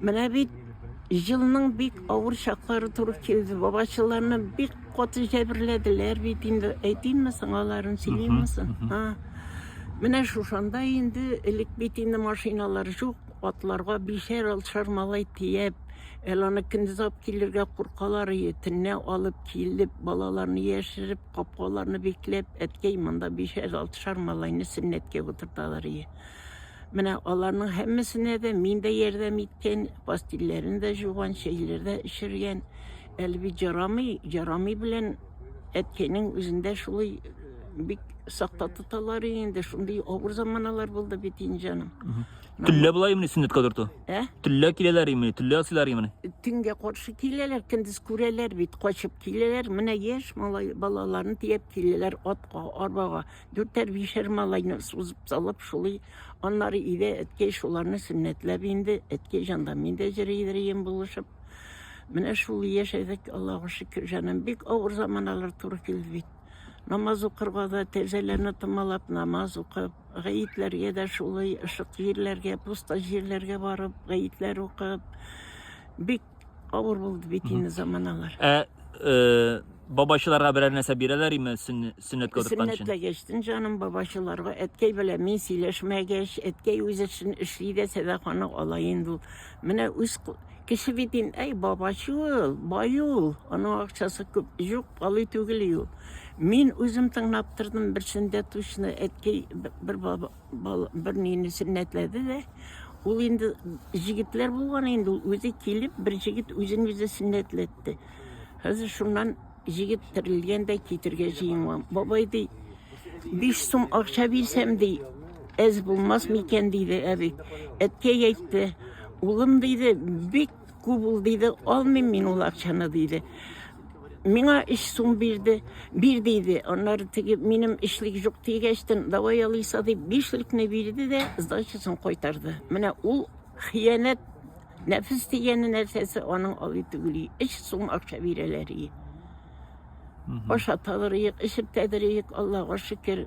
Менә бит җылның бик авыр чаклары туры килде. Бабачыларны бик каты җәберләделәр бит инде. Әйтимме соң аларын, сөйлимме соң? А. Менә шушанда инде элек бит инде машиналар юк, атларга бишәр алшар малай тияп, әле аны көндез алып килергә куркалар иде. Төнлә алып килеп, балаларны яшереп, капкаларны бикләп, әткәй, монда бишәр алшар малайны сөннәткә утырталар иде. Менә аларның һәммәсенә дә мин дә ярдәм иткән, пастилләрен дә жуган, чәйләр дә эчергән. Әле бит жарамый, жарамый белән әткәйнең үзендә шулай э, бик сакта тоталар инде, шундый авыр заманалар булды бит инде җаным. Төнлә болай имени сөннәткә утырту? Ә? Төнлә киләләр имени, төнлә асыйлар имени. Төнгә каршы киләләр, көндез күрәләр бит, качып киләләр. Менә яшь малай балаларын тияп киләләр атка, арбага. Дүртәр-бишәр малайны сузып салып шулый. Аннары өйдә әткәй шуларны сөннәтләп инде. Әткәй җанда мин дә җырыйдырыем булышып. Менә шул яшәдек, Аллага шөкер, җаным. Бик авыр заманалар туры килде бит. Намаз укырга да, тәрзәләрне томалап намаз укып, гаетләргә дә шулай, ышык җирләргә, пуста җирләргә барып, гаетләр укып. Бик Авыр булды бит инде заманалар. Ә э, бабачыларга берәр нәрсә бирәләр име сөнне- сөннәт кылдырткан өчен? Сөннәтләгәчтен җаным бабачыларга әткәй белән мин сөйләшмәгәч, әткәй үз эшен эшли дә сәдаканы ала инде ул. Менә үз ку- кеше бит ин, әй бабачы ул, бай ул, аның акчасы күп, юк, балый түгел ул. Мин үзем тыңлап тордым, берсендә тучны әткәй б- бер баба Бал бернини сөннәтләде дә, ул инде җегетләр булган инде, ул үзе килеп, бер җегет үзен үзе сөннәтләтте. Хәзер шуннан җегет терелгән дә китергә җыенган. Бабай ди, биш сум акча бирсәм ди, әз булмас микән диде әби. Әткәй әйтте, улым диде, бик Күп ул диде, алмыйм мин ул акчаны диде. Миңа өч сум бирде, бир диде. Аннары теге минем эшлек юк дигәчтен, давай алыйса дип, бишлекне бирде дә сдачасын кайтарды. Менә ул хыянәт нәфис дигән нәрсәсе аның алый түгел. Өч сум акча бирәләр. Ашаталар, эчертәдер, Аллага шөкер.